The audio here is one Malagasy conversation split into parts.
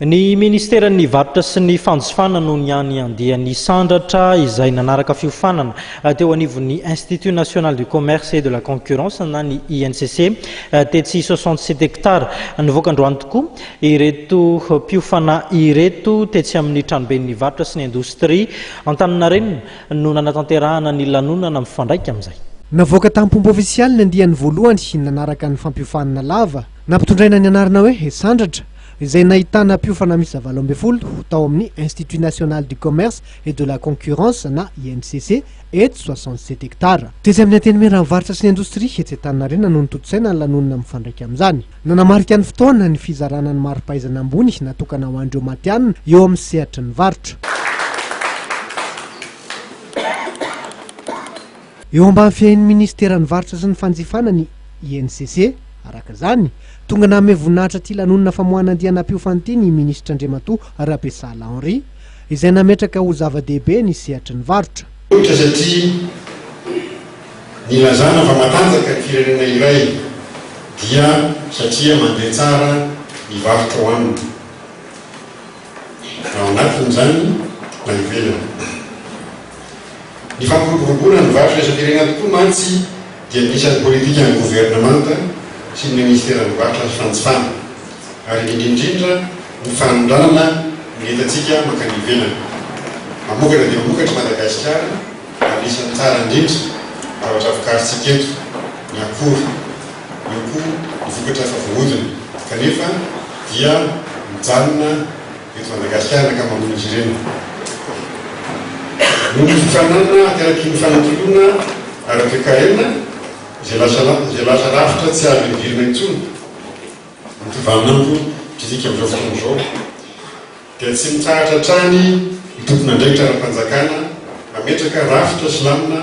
Ny Ministeran'ny Varotra sy ny Fanjifana no niany andiany hisandratra izay nanaraka fiofanana teo anivon'ny Institut National du Commerce et de la Concurrence na ny INCC tetsy soixante sept hectares. Nivoaka androany tokoa ireto mpiofana ireto tetsy amin'ny Tranoben'ny Varotra sy ny Indostria Antaninarenina no nanatanterahana ny lanonana mifandraika amin'izay. Navoaka tamim-pomba ofisialy ny andiany voalohany nanaraka ny fampiofanana lava nampitondraina ny anarana hoe Hisandratra izay nahitana mpiofana miisa valo ambin'ny folo tao amin'ny Institut National du Commerce et de la Concurrence na INCC eto soixante-sept hectares. Tetsy amin'ny Antenimieran'ny varotra sy ny indostria etsy Antaninarenina no notontosaina ny lanonana mifandraika amin'izany. Nanamarika ny fotoana ny fizarana ny mari-pahaizana ambony natokana ho an'ireo matihanina eo amin'ny sehatry ny varotra. Eo ambany fiahian'ny minisiteran'ny Varotra sy ny fanjifana ny INCC. Araka izany, tonga nanome voninahitra ity lanonana famoahana andiana mpiofana ity ny minisitra Andriamatoa Rabesala Henri, izay nametraka ho zava-dehibe ny sehatry ny varotra. Ohatra satria nilazana fa matanjaka ny firenena iray dia satria mandeha tsara ny varotra ao aminy. na ao anatiny izany na ivelany. Ny fampiroboroboana ny varotra isam-pirenena tokoa mantsy dia anisan'ny politikan'ny governemanta sy ny minisiteran'ny Varotra sy Fanjifana, ary indrindra indrindra ny fanondranana ny entantsika mankany ivelany. Mamokatra dia mamokatra i Madagasikara ary anisan'ny tsara indrindra zavatra vokarintsika eto ny akora. eo koa ny vokatra efa voahodina kanefa dia mijanona eto Madagasikara ny ankamaroan'izy ireny. Noho ny fifaninanana ateraky ny fanatoloana ara-toekarena izay lasa lasa rafitra tsy azo ihodirana intsony ny tovamin'andro mpidinika amin'izao fotoana izao, dia tsy mitsahatra hatrany ny tompon'andraikitra ara-panjakana hametraka rafitra sy lamina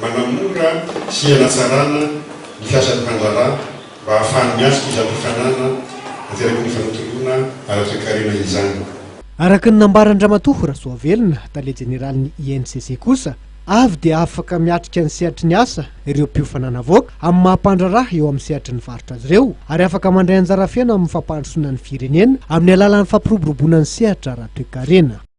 manamora sy hanatsarana ny fiasan'ny mpandraharaha mba hahafahany miatrika izany fifanana ateraky ny fanontoloana ara-toekarena izany. Araka ny nambaran-dRamatoa Rasoavelona, Tale Jeneralin'ny INCC kosa, Avy dia afaka miatrika ny sehatry ny asa ireo mpiofana an'avoaka amin'ny maha mpandraharaha eo amin'ny sehatry ny varotra azy ireo ary afaka mandray anjara feno amin'ny fampandrosoana ny firenena amin'ny alalan'ny fampiroboroboana ny sehatra ara-toekarena.